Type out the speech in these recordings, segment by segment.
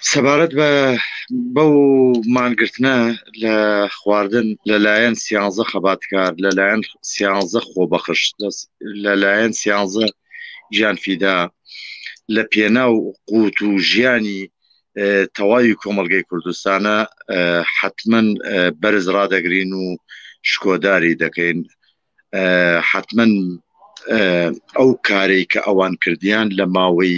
سەبارەت بە بەو مانگرتنە لە خواردن لەلایەن سیانزە خەباتکار لەلایەن سیانزە خۆبەخش لەلایەن سیانزە گیانفیدا لە پێناو قوت و ژیانی تەواوی کۆمەلگەی کوردستانە حتمما بەرز ڕادەگرین و شکۆداری دەکەین حتمەن ئەو کارەی کە ئەوان کردیان لە ماوەی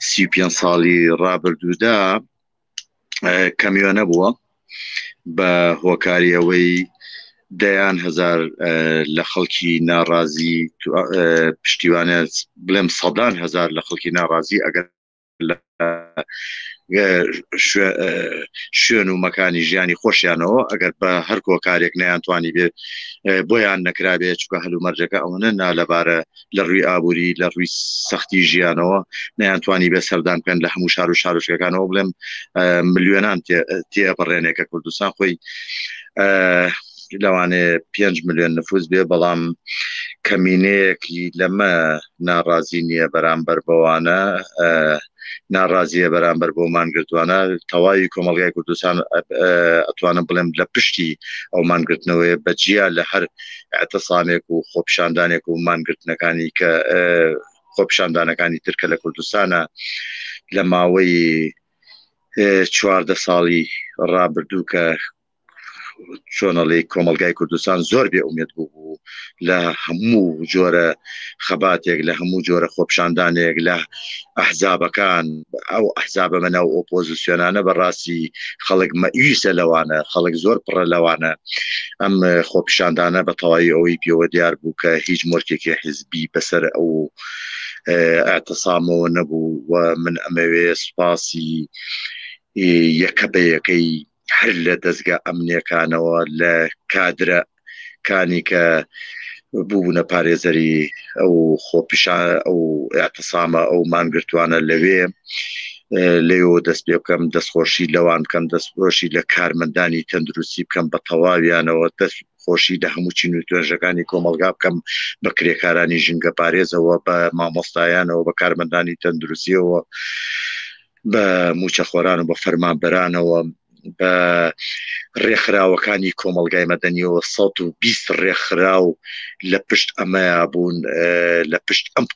سی پێ ساڵی ڕابردوودا کەمیۆنە بووە بە هۆکاری ئەوەی دەیان هزار لە خەڵکی ناڕازی پشتیوانە بڵێم سەدان هزار لە خەڵکی ناڕازی ئەگەر لە شوێن و مەکانی ژیانی خۆشیانەوە ئەگەر بە هەر کۆکارێک نەیانتوانی بێت بۆیان نەکرابێت چکە هەلومەرجەکە ئەوەنە نالەبارە لە ڕووی ئابووری لە ڕووی سەختی ژیانەوە نەیانتوانی بێ سەردان بکەن لە هەموو شار و شارۆچکەکانەوە بڵێم ملیۆنان تێپەڕێنێک کە کوردستان خۆی لەوانێ پێنج ملیۆن نفوس بێ بەڵام کەمینەیەکی لەمە ناڕازی نییە بەرامبەر بەوانە ناڕازیە بەرامبەر بۆ مانگرتوانە تەواوی کۆمەلگای کوردستان ئەتوانم بڵێم لە پشتی ئەو مانگرتنەوەی بەجیا لە هەر ئەتەسامێک و خۆپشاندانێک و مانگرتنەکانی کە خۆپشاندانەکانی ترکە لە کوردستانە لە ماوەی چواردە ساڵی ڕابردوو کە چۆنەڵی کۆمەلگای کوردستان زۆر بێ ئومێت بوو بوو لە هەموو جۆرە خەباتێک لە هەموو جۆرە خۆپشاندانێک لە ئەحزابەکان ئەو ئەحزابە بە ناو ئۆپۆزیسیۆنانە بەڕاستی خەڵک مەویسە لەوانە خەڵک زۆر پڕە لەوانە ئەم خۆپشاندانە بە تەواوی ئەوەی پێوە دیار بوو کە هیچ مۆرکێکی حزبی بەسەر ئەو ئەتەسامەوە نەبوو و من ئەمەوێ سوپاسی یەکە بە یەکەی هەر لە دەستگا ئەمنیەکانەوە لە کادرە کانی کە بوونە پارێزەری ئەو خۆپیشان ئەو اعتصامە ئەو مانگرتوانە لەوێ لەو دەست پێ بکەم دەستخۆشی لەوان بکەم دەستخۆشی لە کارمەندانی تەندروستی بکەم بە تەواویانەوە دەست خۆشی لە هەموو چین و توێژەکانی کۆمەلگا بکەم بە کرێکارانی ژینگە پارێزەوە بە مامۆستایانەوە بە کارمەندانی تەندروستیەوە بە موچەخۆران و بە فەرمانبەرانەوە بە ڕێکخراوەکانی کۆمەلگای مەدەنیەوە 120 ڕێکخراو لە پشت ئەمەیا بوون لە پشت ئەم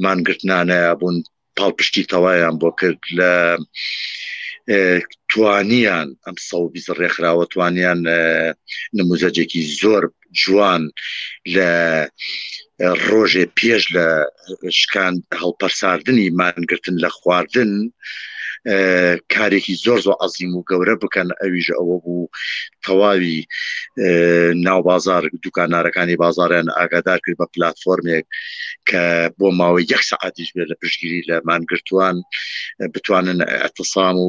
مانگرتنانەیە بوون پاڵپشتی تەوایان بۆ کرد لە توانیان ئەم سەوبیز ڕێکخراوە توانیان نموزەجێکی زۆر جوان لە ڕۆژێ پێش لە شکان هەڵپەرساردنی مانگرتن لە خواردن کارێکی زۆر زۆر عزیم و گەورە بکەن ئەویش ئەوە بوو تەواوی ناو بازار دوکانارەکانی بازاریان ئاگادار کرد بە پلتفۆرمێک کە بۆ ماوەی یەک سعاتیش بێت لە پشگیری لە مانگرتوان بتوانن ئەتەسام و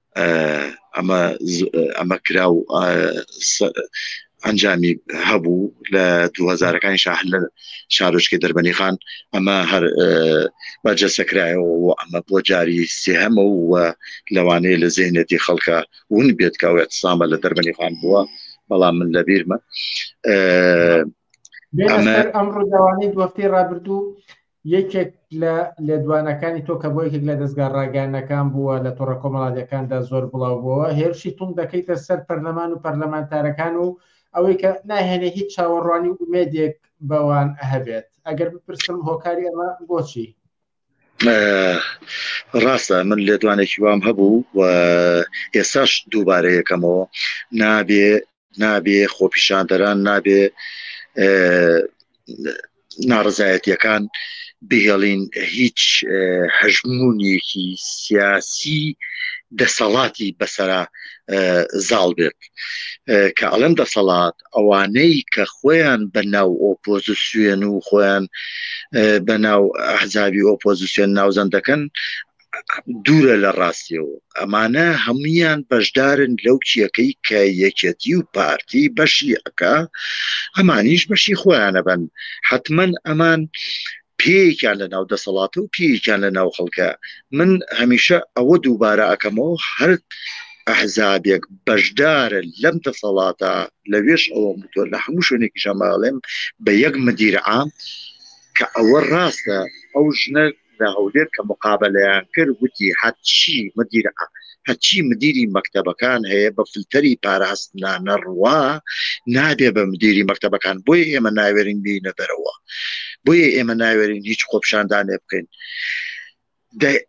ئەمە ئەمە کرا و ئەنجامی هەبوو لە دوهزارەکانی شاهر لە شارۆچکە دەربەنی خان ئەمە هەر بەرجەسەکرایەوە و ئەمە بۆ جاری سێهەمە و لەوانەیە لە زێنێتی خەڵکە ون بێت کە ئەوێت سامە لە دەربەنی خان بووە بەڵام من لە بیرمە ئەم ڕووداوانەی دوەفتی ڕابردوو یەکێک لە لێدوانەکانی تۆ کە بۆ یەکێک لە دەستگا ڕاگەیانەکان بووە لە تۆڕە کۆمەڵاتەکاندا زۆر بڵاو بووەوە هێرشی تونگ دەکەیتە سەر پەرلەمان و پەرلەمانتارەکان و ئەوەی کە ناهێنێ هیچ چاوەڕوانی و ئومێدێک بەوان هەبێت ئەگەر بپرسم هۆکاری ئەمە بۆچی ڕاستە من لێدوانێکی وام هەبوو و ئێساش دووبارەیەکەمەوە نابێ نابێ خۆپیشاندەران نابێ ناڕزایەتیەکان بهێڵین هیچ هەژمونونیەکی سیاسی دەسەڵاتی بەسرە زاڵ بێت کە ئەڵەن دەسەڵات ئەوانەی کە خۆیان بە ناو ئۆپۆزیسیێن و خۆیان بە ناو ئەحزابی ئۆپۆزیسیۆن ناوزەند دەکەن دوورە لە ڕاستیەوە ئەمانە هەمویان بەشدارن لەو کیەکەی کە یەکەتی و پارتی بەشی ئەکا ئەمانیش بەشی خۆیانە بن حتمما ئەمان پێکیان لە ناو دەسەڵاتە و پێکیان لە ناو خەڵکە من هەمیشە ئەوە دووبارە ئەەکەمەوە هەر ئەحزابێک بەشدارە لەم دەسەڵاتە لەوێش ئەوە متۆ لە هەموو شوێنێکی ژەماڵێم بە یەک مدیرعام کە ئەوە ڕاستە ئەو ژنە لە هەولێر کە مقابەلەیان کرد وتی هەرچی مدیر هەرچی مدیری مەکتەبەکان هەیە بە فلتەری پاراستنا نەڕوا نابێ بە مدیری مەکتەبەکان بۆی ئێمە ناوێرین بینە دەرەوە بۆیە ئێمە ناوێرین هیچ خۆپشاندانێ بکەین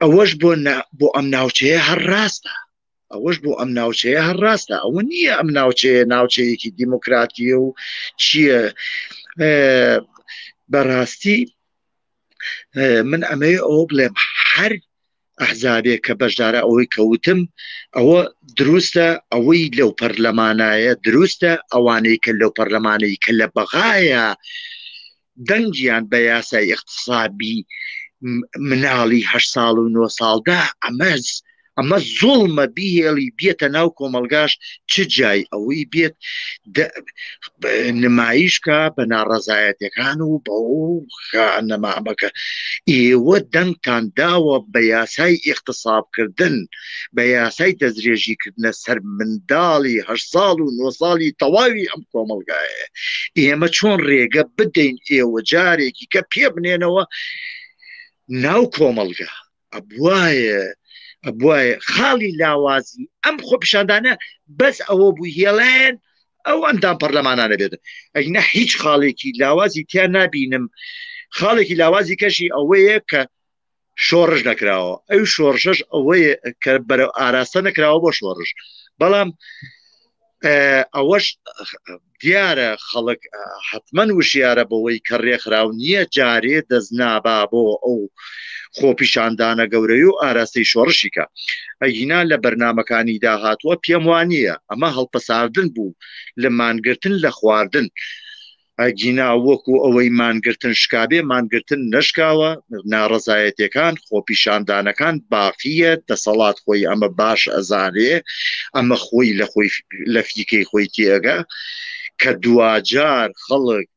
ئەوەش بۆ بۆ ئەم ناوچەیە هەر ڕاستە ئەوەش بۆ ئەم ناوچەیە هەر ڕاستە ئەوە نییە ئەم ناوچەیە ناوچەیەکی دیموکراتیە و چییە بەڕاستی من ئەمە ئەو بڵێم هەر ئەحزابێک کە بەشدارە ئەوەی کەوتم ئەوە دروستە ئەوەی لەو پەرلەمانایە دروستە ئەوانەی کە لەو پەرلەمانەی کە لە بەغایە دەنگیان بە یاسای اقتصابی مناڵی هە ساڵ و نۆ ساڵدا ئەمەز ئەمە زۆڵمە بیهێڵی بێتە ناو کۆمەلگاش چ جای ئەوەی بێت نمایشکە بە ناڕەزایەتەکان و بە نەمامەکە ئێوە دەنگتان داوە بە یاسای اقتصابکردن بە یاسای دەسترێژی کردنە سەر منداڵی هە ساڵ و نۆ ساڵی تەواوی ئەم کۆمەلگایە ئێمە چۆن ڕێگە بدەین ئێوە جارێکی کە پێ بنێنەوە ناو کۆمەلگا ئەبواە ئەبواە خاڵی لاوازی ئەم خۆ پیشاندانە بەس ئەوە بوو هێڵێن ئەو ئەندام پەرلەمانانە بێت ئەگنا هیچ خاڵێکی لاوازی تیا نبینم خاڵێکی لاوازی کەشی ئەوەیە کە شۆڕش نەکراوە ئەو شۆڕشەش ئەوەی کە بەرە ئاراستە نەکراوە بۆ شۆڕش بەڵام ئەوەش دیارە خەڵک حتمما وشیارە بەوەی کە ڕێکخراو نییە جارێ دەستنابا بۆ ئەو خۆپیشاندانە گەورەی و ئاراستەی شۆڕشیکە ئەگینا لە بەرنمەکانی داهاتوە پێم وانە ئەمە هەڵپەساردن بوو لە مانگرتن لە خواردن ئەگینا وەکو ئەوەی مانگرتن شکابێ مانگرتن نەشکاوە ناڕەزایەتەکان خۆپیشاندانەکان باقیە دەسەڵات خۆی ئەمە باش ئەزانێ ئەمە خۆی لە خۆی لە فیکەی خۆی تێگە کە دواجار خەڵک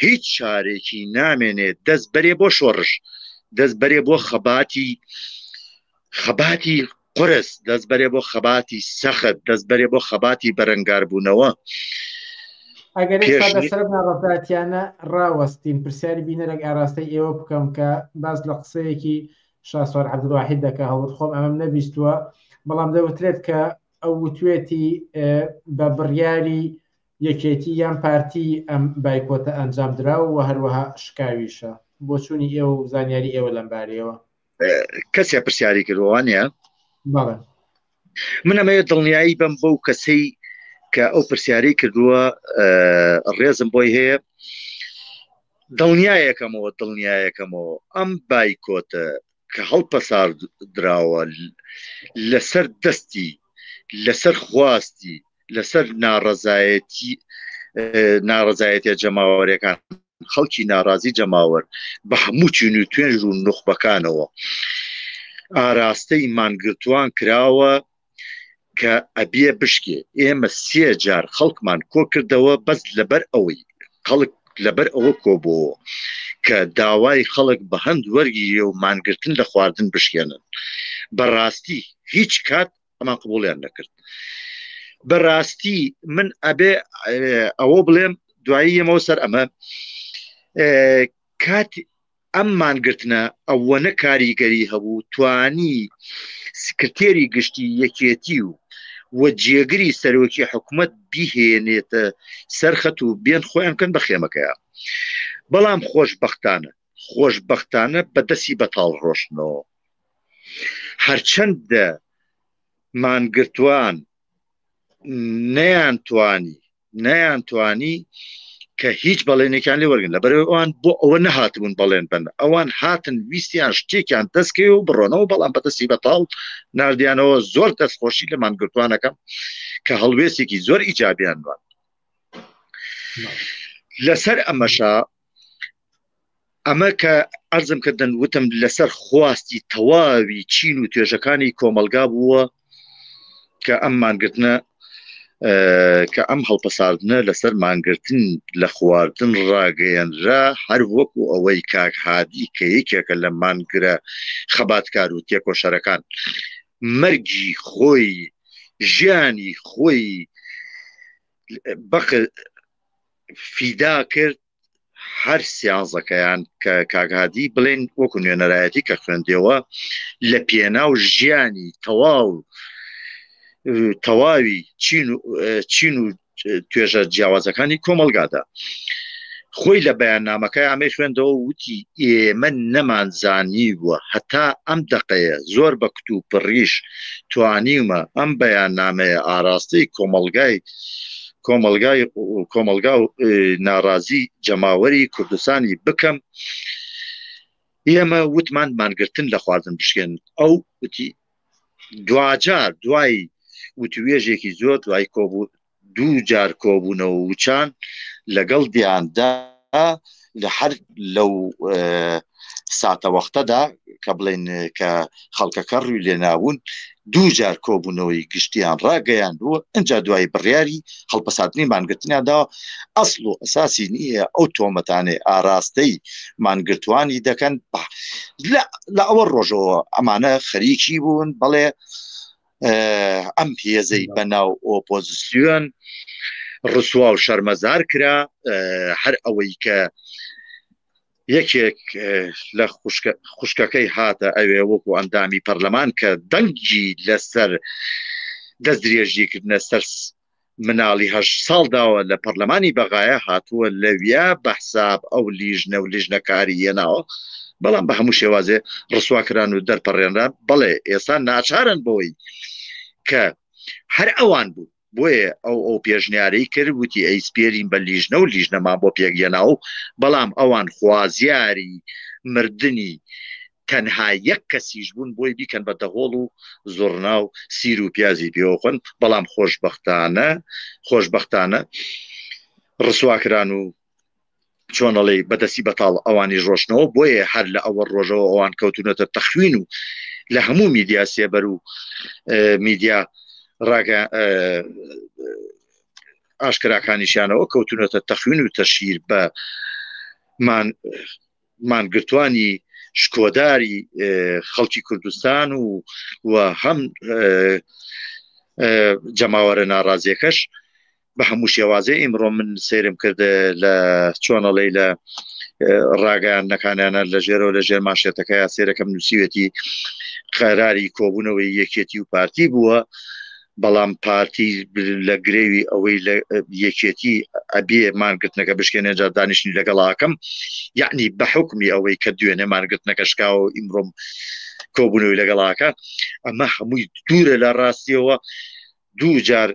هیچ شارێکی نامێنێت دەست بەرێ بۆ شۆڕش دەست بەرێ بۆ خەباتی خەباتی قرس دەست بەرێ بۆ خەباتی سەخت دەست بەرێ بۆ خەباتی بەرەنگاربوونەوە ئەگەر سەرەتاتیانە ڕاوەستین پرسیاری بینەرێک ئاراستەی ئێوە بکەم کە باز لە قسەیەکی شاسوار عبدواحید دەکە هەڵت خۆم ئەمەم نەبیستووە بەڵام دەوترێت کە ئەو وتوێتی بە بڕیاری یەکێتی یان پارتی ئەم بایکۆتە ئەنجام درا و هەروەها شکاویشە بۆچوونی ئێوە و زانیاری ئێوە لەمبارەیەوە کەسێ پرسیاری کردوان نیە من ئەمەوێت دڵنیایی بم بەو کەسەی کە ئەو پرسیاری کردووە ڕێزم بۆی هەیە دڵنیایەکەمەوە دڵنیایەکەمەوە ئەم بایکۆتە کە هەڵپەسار دراوە لەسەر دەستی لەسەر خواستی لەسەر ناڕەزایەتی ناڕزایەتە جەماوەرەکان خەڵکی ناڕازی جەماوەر بە هەموو چین و توێنج و نوخبەکانەوە ئاراستەی مانگرتوان کراوە کە ئەبیە بشکێ ئێمە سێ جار خەڵکمان کۆ کردەوە بەس لەبەر ئەوەی خەڵک لەبەر ئەوە کۆبووەوە کە داوای خەڵک بە هەند وەرگیە و مانگرتن لە خواردن بشکێنن بەڕاستی هیچ کات ئەمان قبوڵیان دەکرد بەڕاستی من ئەبێ ئەوە بڵێم دوایی یەمەوە سەر ئەمە کات ئەم مانگرتنە ئەوە نە کاریگەری هەبوو توانی سکرتێری گشتی یەکێتی و و جێگری سەرۆکی حکوومەت بیهێنێتە سەرخەت و بێن خۆیان کەن بە خێمەکەیە بەڵام خۆشببختانە خۆشببختانە بەدەستی بەتاڵ ڕۆشتنەوە هەرچەند مانگرتوان نەیانتوانی نەیانتوانی کە هیچ بەڵێنێکیان لێ وەرگن لە بەرەوەوان بۆ ئەوە نەهاتبوون بەڵێن بن ئەوان هاتن ویستیان شتێکیان دەستکەوێ و بڕۆنەوە بەڵام بەدەستی بەتاڵ نردیانەوە زۆر دەستخۆشی لە مانگرتوانەکەم کە هەڵوێستێکی زۆر ئیجابیان دوان لەسەر ئەمەشا ئەمە کە ئەرزم کردن وتم لەسەر خواستی تەواوی چین و توێژەکانی کۆمەلگا بووە کە ئەم مانگرتنە کە ئەم هەڵپەساردنە لەسەر مانگرتن لە خواردن ڕاگەیەنرا هەر وەکو ئەوەی کاک هادی کە یەکێکە لە مانگرە خەباتکار و تێکۆشەرەکان مەرگی خۆی ژیانی خۆی بەق فیدا کرد هەر سیانزەکەیان کە کاگادی بڵێن وەکو نوێنەرایەتی کە خوێندەوە لە پێناو ژیانی تەواو تەواوی چین و توێژە جیاوازەکانی کۆمەلگادا خۆی لە بەیاننامەکە ئەمەی خوێندەوە وتی ئێمە نەمانزانی بووە هەتا ئەم دقەیە زۆر بە کت و پڕیش توانیمە ئەم بەیاننامەیە ئاراستەی کۆمەلگای کۆمەلگای کۆمەلگا و ناڕازی جەماوەری کوردستانی بکەم ئێمە وتمان مانگرتن لە خواردن بشکێن ئەو وتی دواجار دوای وتوێژێکی زۆر دوای کۆبوو دوو جار کۆبوونەوە وچان لەگەڵ دیاندا لە هەر لەو ساتەوەختەدا کە بڵێن کە خەڵکەکە ڕووی لێناون دوو جار کۆبوونەوەی گشتیان ڕاگەیان بوو ئەجا دوای بڕیاری هەڵپەساتنی مانگرتنیاندا ئەسڵ و ئەساسی نییە ئەو تۆمەتانێ ئاراستەی مانگرتوانی دەکەن لە ئەوە ڕۆژەوە ئەمانە خەریکی بوون بەڵێ ئەم هێزەی بەناو ئۆپۆزیسیۆن ڕسوا و شەرمەزار کرا هەر ئەوەی کە یەکێک لە خوشکەکەی هاتە ئەوێ وەکو ئەندامی پەرلەمان کە دەنگی لەسەر دەست درێژیکردە سەر مناڵی هەشت ساڵ داوە لە پەڕلەمانی بەغایە هاتووە لەویا بەحساب ئەو لیژنە و لیژنە کاری یەناوە بەڵام بە هەموو شێوازێ ڕسوا کران و دەرپەڕێنران بەڵێ ئێسان ناچارن بۆی کە هەر ئەوان بوو بۆیە ئەو ئەو پێشنیارەی کرد وتی ئەی سپێرین بە لیژنە و لیژنەمان بۆ پێکگەێناو بەڵام ئەوان خوازیاری مردنی تەنها یەک کەسیش بوون بۆی بیکەن بە دەهۆڵ و زوڕنا و سیر و پیازی پێوەخۆن بەڵام خۆشبەختانە خۆشبەختانە ڕسواکران و چۆنەڵی بەدەستی بەتاڵ ئەوانی ڕۆشنەوە بۆیە هەر لە ئەوە ڕۆژەوە ئەوان کەوتونەتە تەخوین و لە هەموو میدیا سێبەر و میدیا ڕاگە ئاشکراکانیشانەوە کەوتونەتە تەخوین و تەشیر بە مان مانگرتوانی شکۆداری خەڵکی کوردستان و و هەم جەماوەرە ناڕازیەکەش بە هەموو شێوازێ ئیمڕۆ من سێرم کرد لە چۆنەڵی لە ڕاگەیان نەکانیانە لە ژێرەوە لە ژێر ماشێتەکە یا سێرەکەم نووسیوێتی قەراری کۆبوونەوەی یەکێتی و پارتی بووە بەڵام پارتی لە گرێوی ئەوەی لە یەکێتی ئەبێ مانگرتنەکە بشکێنێ جار دانیشتنی لەگەڵاکەم یعنی بە حکمی ئەوەی کە دوێنێ مانگرتنەکە شکاوە و ئیمڕۆم کۆبوونەوەی لەگەڵاکە ئەمە هەمووی دوورە لە ڕاستیەوە دوو جار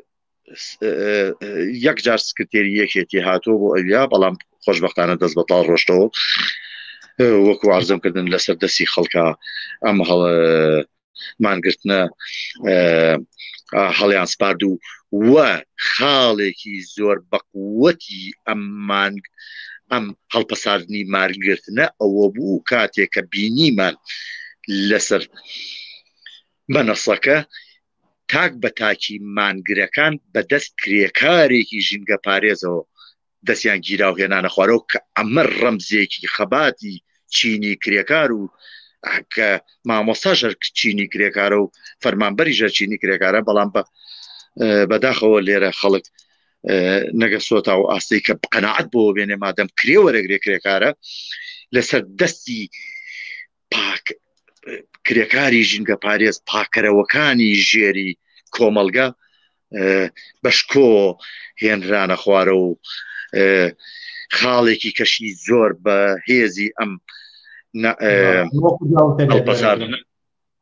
یەک جار سکرتێری یەکێتی هاتووە بۆ ئەویا بەڵام خۆشببختانە دەست بەتاڵ ڕۆشتەوە وەکو وارزم کردن لەسەر دەستی خەڵکە ئەم هەڵە مانگرتنە هەڵیان سپارد و وە خاڵێکی زۆر بەقوەتی ئەم مانگ ئەم هەڵپەساردنی مارگرتنە ئەوە بوو کاتێک کە بینیمان لەسەر مەنەسەکە تاک بە تاکی مانگرەکان بەدەست کرێکارێکی ژینگە پارێزەوە دەستیان گیرا و هێنانە خوارەوە کە ئەمە ڕەمزێکی خەباتی چینی کرێکار و کە مامۆستا ژەر چینی کرێکارە و فەرمانبەری ژەر چینی کرێکارە بەڵام بە بەداخەوە لێرە خەڵک نەگە سۆتا و ئاستی کە قەنەعات بۆ بێنێ مادەم کرێ وەرەگرێ کرێکارە لەسەر دەستی پاک کرێکاری ژینگە پارێز پاکەرەوەکانی ژێری کۆمەلگا بەشکۆ هێنرانە خوارە و خاڵێکی کەشی زۆر بە هێزی ئەم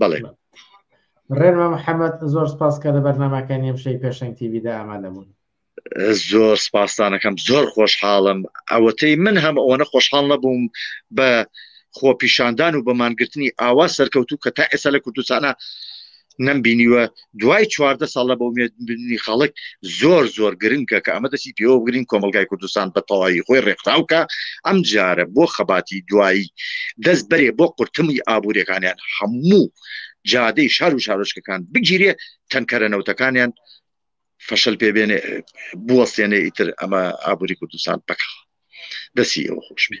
بەڵێ ڕێنمە محەممەد زۆر سپاس کە لە بەرنمەکانی ئەمشەی پێشنگ تیویدا ئامادە بوون زۆر سپاسانەکەم زۆر خۆشحاڵم ئەوەتەی من هەم ئەوەنە خۆشحاڵ نەبووم بە خۆپیشاندان و بەمانگرتنی ئاوا سەرکەوتو کە تا ئێستا لە کوردستانە نەمبینیوە دوای چواردە ساڵ لە بەومێدنی خەڵک زۆر زۆر گرنگە کە ئەمە دەسی پێوە بگرین کۆمەلگای کوردستان بە تەواوی خۆی ڕێکخراوکە ئەم جارە بۆ خەباتی دوایی دەست بەرێ بۆ قورتمی ئابوووریەکانیان هەموو جادەی شار و شارۆچکەکان بگیرێ تەنکەرە نەوتەکانیان فەشل پێ بێنێ بوەستێنێ ئیتر ئەمە ئابووری کوردستان بکە دەسی ئەوە خۆشبی